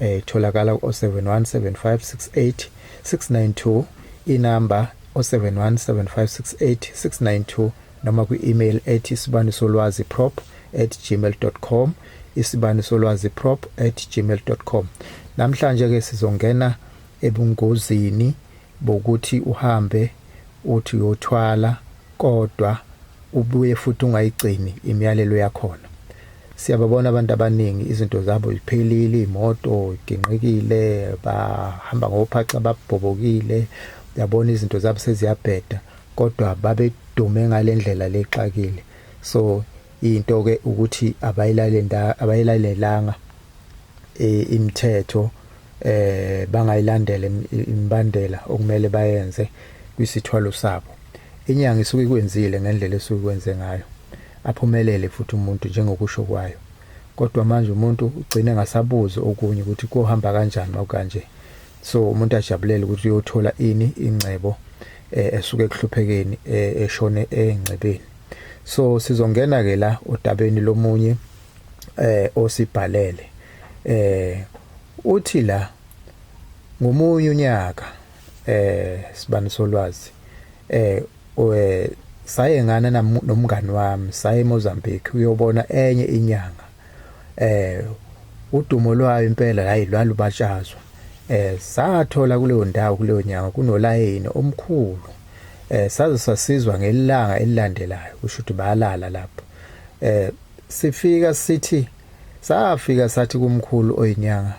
Eh, itholakala ku 0717568692 inamba 0717568692 noma kwi-email ethi isibanisolwazi prop at gmail.com isibanisolwazi prop at gmail.com namhlanje-ke sizongena ebungozini bokuthi uhambe uthi uyothwala Kodwa ubuye futhi ungayigcini imiyalelo yakhona. Siyababona abantu abaningi izinto zabo ziphelile, iy'moto iginqikile, bahamba ngophaxa babhobokile, uyabona izinto zabo seziyabheda kodwa babedume ngale ndlela le exakile. So into-ke ukuthi abayilalelanga eh, imithetho eh bangayilandela imbandela okumele bayenze kwisithwalo sabo inyanga isuke ikwenzile ngendlela esuke ikwenze ngayo aphumelele futhi umuntu njengokusho kwayo kodwa manje umuntu ugcine ngasabuzi okunye ukuthi kohamba kanjani makanje so umuntu ajabulele ukuthi uyothola ini ingcebo eh, esuke ekuhluphekeni eh, eshone engcebeni so sizongena ke la odabeni lomunye eh osibhalele eh uthi la ngomunye unyaka eh sibani solwazi eh we saye ngana nomngani wami saye eMozambique uyobona enye inyanga eh udumo lwayo impela hayi lwalubatshazwa eh sathola kuleyo ndawo kuleyo nyanga kunolayini omkhulu eh saze sasizwa ngelanga elilandelayo kusho ukuthi bayalala lapho eh sifika sithi safika sathi kumkhulu oyinyanga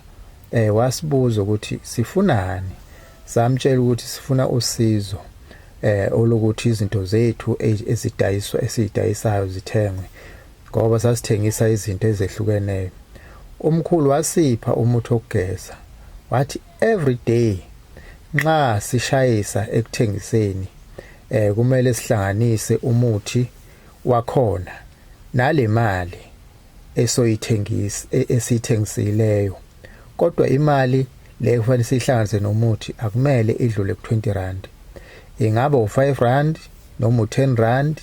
eh wasibuza ukuthi sifunani samtshela ukuthi sifuna usizo eh olokuthi izinto zethu e, ezidayiswa esidayisayo zithengwe ngoba sasithengisa izinto ezehlukeneyo umkhulu wasipha umuthi okugeza wathi every day nxa sishayisa ekuthengiseni eh kumele sihlanganise umuthi Kwakhona nale mali esoyithengisa e, esiyithengisileyo kodwa imali le kufanele siyihlanganise nomuthi akumele idlule ku-20 rand ingaba u-5 rand noma u-10 rand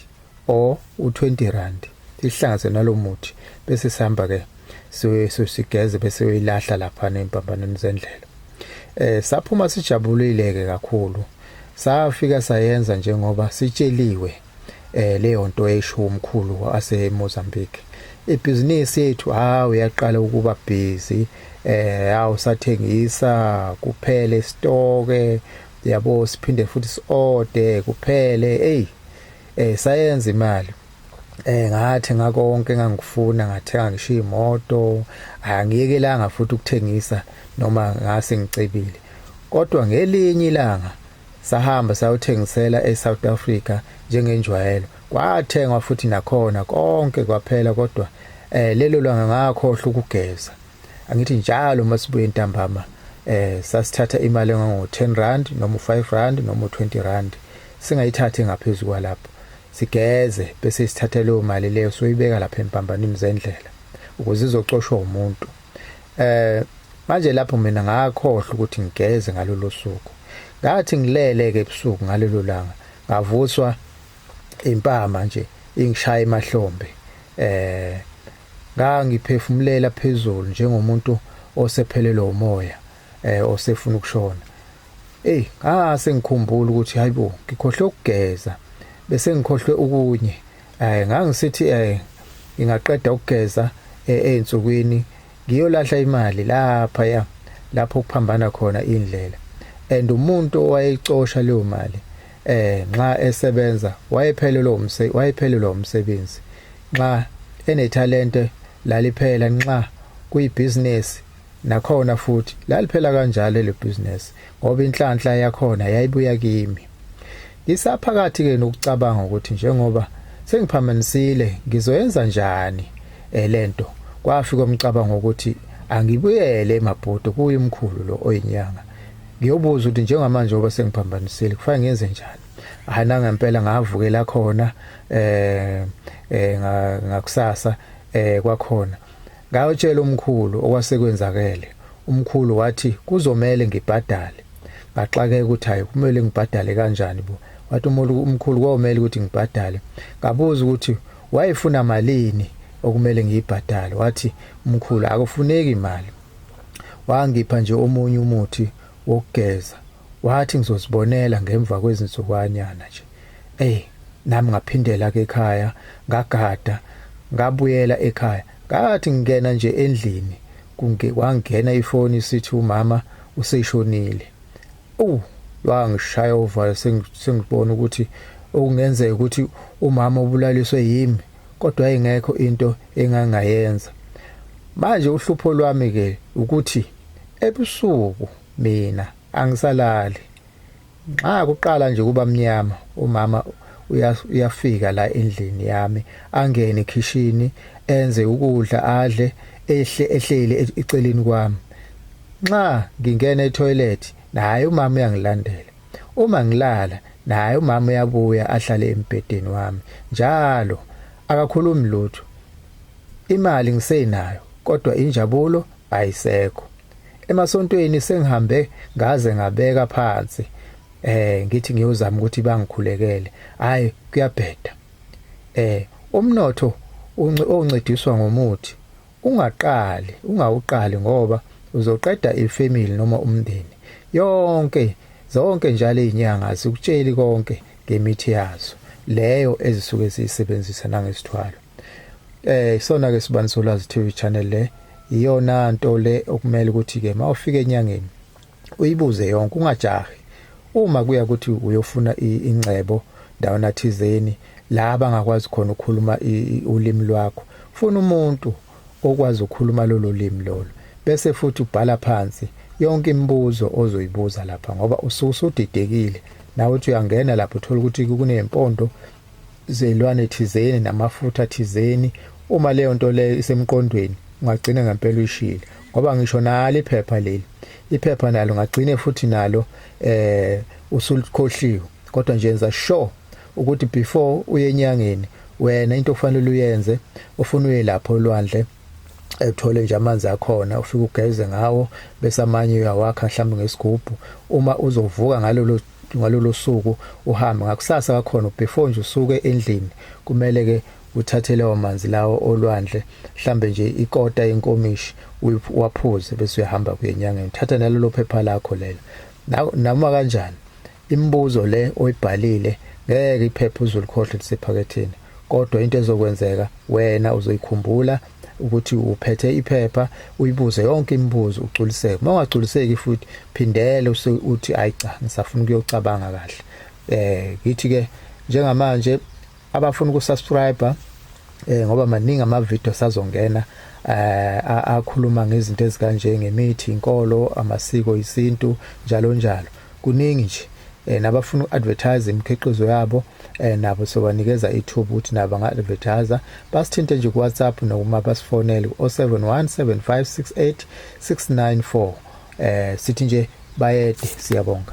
or u-20 rand sihlanganise nalo muthi bese sihamba ke sigeze bese uyilahla lapha nempambanweni zendlela eh saphuma sijabulile ke kakhulu safika sayenza njengoba sitsheliwe eh leyo nto esho umkhulu ase Mozambique ibhizinisi yethu hawu yaqala ukuba busy eh hawu sathengisa kuphele stoke yabo siphinde futhi siode kuphele hey eh sayenza imali eh ngathi ngakonke ngangifuna ngathenga ngisho imoto angiyekelanga futhi ukuthengisa noma ngase ngicebile kodwa ngelinye ilanga Sahamba sayothengisela eSouth Africa njengenjwayelo. Kwathengwa futhi nakhona konke kwaphela kodwa eh lelo langa ngakhohlwa ukugeza. Angithi njalo masibuye ntambama eh sasithatha imali engango 10 rand noma 5 rand noma 20 rand singayithathi ngaphezulu kwalapho. Sigeze bese sithatha leyo mali leyo soyibeka lapha empambanini zendlela ukuze izocoshwa umuntu. Eh manje lapho mina ngakhohlwa ukuthi ngigeze ngalolu suku. Ngathi ngilele ke ebusuku ngalelo langa ngavuswa impama nje ingishaya emahlombe. Eh ngangiphefumulela phezulu njengomuntu osephelelwe umoya eh osefuna ukushona. Ey, ngase ngikhumbula ukuthi hayibo ngikhohle ukugeza bese ngikhohlwe ukunye eh ngangisithi eh ngingaqeda ukugeza eh, einsukwini ngiyolahla imali lapha ya lapho kuphambana khona indlela and umuntu owayecosha leyo mali eh nxa esebenza wayephelelwe umse wayephelelwe umsebenzi nxa enetalente laliphela nxa kuyibusiness Nakhona futhi laliphela kanjalo le business ngoba inhlanhla yakhona yayibuya kimi. Ngisaphakathi ke nokucabanga ukuthi njengoba sengiphamanisile ngizoyenza njani eh, lento kwafika umcabango ukuthi angibuyele eMabhudo kuye umkhulu lo oyinyanga. Ngiyobuza ukuthi njengamanje ngoba sengiphambanisile kufanele ngenze njani. Hana ngempela ngavukela khona eh, eh ngakusasa eh kwakhona Ngayotshela umkhulu okwasekwenzakele. Umkhulu wathi kuzomele ngibhadale. Ngaxakeka ukuthi hayi kumele ngibhadale kanjani bo. Wathi umkhulu komele ukuthi ngibhadale. Ngabuza ukuthi wayefuna malini okumele ngiyibhadale. Wathi umkhulu akufuneki imali. Wangipha nje omunye umuthi wokugeza Wathi ngizozibonela ngemva kwezinsukwanyana nje. Eyi, nami ngaphindela ke ekhaya, ngagada, ngabuyela ekhaya. Ngathi ngingena nje endlini, kwangena ifoni sithi umama useshonile. Uwu, lwangishaya uvalo sengibona ukuthi okungenzeka ukuthi umama ubulaliswe yimi kodwa ingekho into engangayenza manje uhlupho lwami ke ukuthi ebusuku Mina angisalali. Nxa kuqala nje kuba mnyama umama uyafika la endlini yami angene ekhishini enze ukudla adle ehle ehleli e-, eceleni kwami nxa ngingena etoilet naye umama uyangilandela uma ngilala naye umama uyabuya ahlale embhedeni wami njalo akakhulumi lutho imali ngisenayo kodwa injabulo ayisekho emasontweni sengihambe ngaze ngabeka phansi eh ngithi ngiyozama ukuthi bangikhulekele hayi kuyabheda eh umnotho oncediswa ngomuthi ungaqali ungawuqali ngoba uzoqeda ifamily noma umndeni yonke zonke njalo izinyanga sikutsheli konke ngemithi yazo leyo ezisuke ziyisebenzisa nangesithwalo eh isona ke sibani solwazi TV channel le iyona nto le okumele ukuthi ke mawufika enyangeni uyibuze yonke ungajahi uma kuya ukuthi uyofuna ingcebo ndawona thizeni la bangakwazi khona ukukhuluma ulimi lwakho funa umuntu okwazi ukukhuluma lolo limi lolo bese futhi ubhala phansi yonke imibuzo ozoyibuza lapha ngoba usuke usudidekile nawe uthi uyangena lapho uthola ukuthi kunempondo zilwane thizeni namafutha thizeni uma leyo nto leyo isemqondweni ungagcina ngempela uyishile ngoba ngisho nalo iphepha leli iphepha nalo ngagcine futhi nalo eh usulikhohliwe kodwa nje yenza sure ukuthi before uye enyangeni wena into okufanele uyenze ufuna uye lapho olwandle ethole nje amanzi akhona ufike ugeze ngawo bese amanye uyawakha mhlawumbe ngesigubhu uma uzovuka ngalolo ngalolo suku uhambe ngakusasa kakhona before nje usuke endlini kumele ke uthathe lawo manzi lawo olwandle mhlambe nje ikota yenkomishi waphuze bese uyahamba kuye enyangeni thatha nalelo phepha lakho lelo noma kanjani imibuzo le oyibhalile ngeke iphepha uzolikhohle lisephaketheni kodwa into ezokwenzeka wena uzoyikhumbula ukuthi uphethe iphepha uyibuze yonke imibuzo ugculiseke uma ungagculiseki futhi phindele uthi hayi cha ngisafuna ukuyocabanga kahle eh ngithi ke njengamanje abafuna ukusubscribe eh ngoba maningi ama video sazongena eh akhuluma ngezinto ezikanje ngemithi inkolo amasiko isintu njalo njalo kuningi nje eh, nabafuna uku-advertise imikhiqizo yabo eh, nabo sobanikeza ithuba ukuthi nabo banga-advertise basithinte nje kuwhatsapp nokuma basifonele ku-071 7568 694 eh, sithi nje bayede siyabonga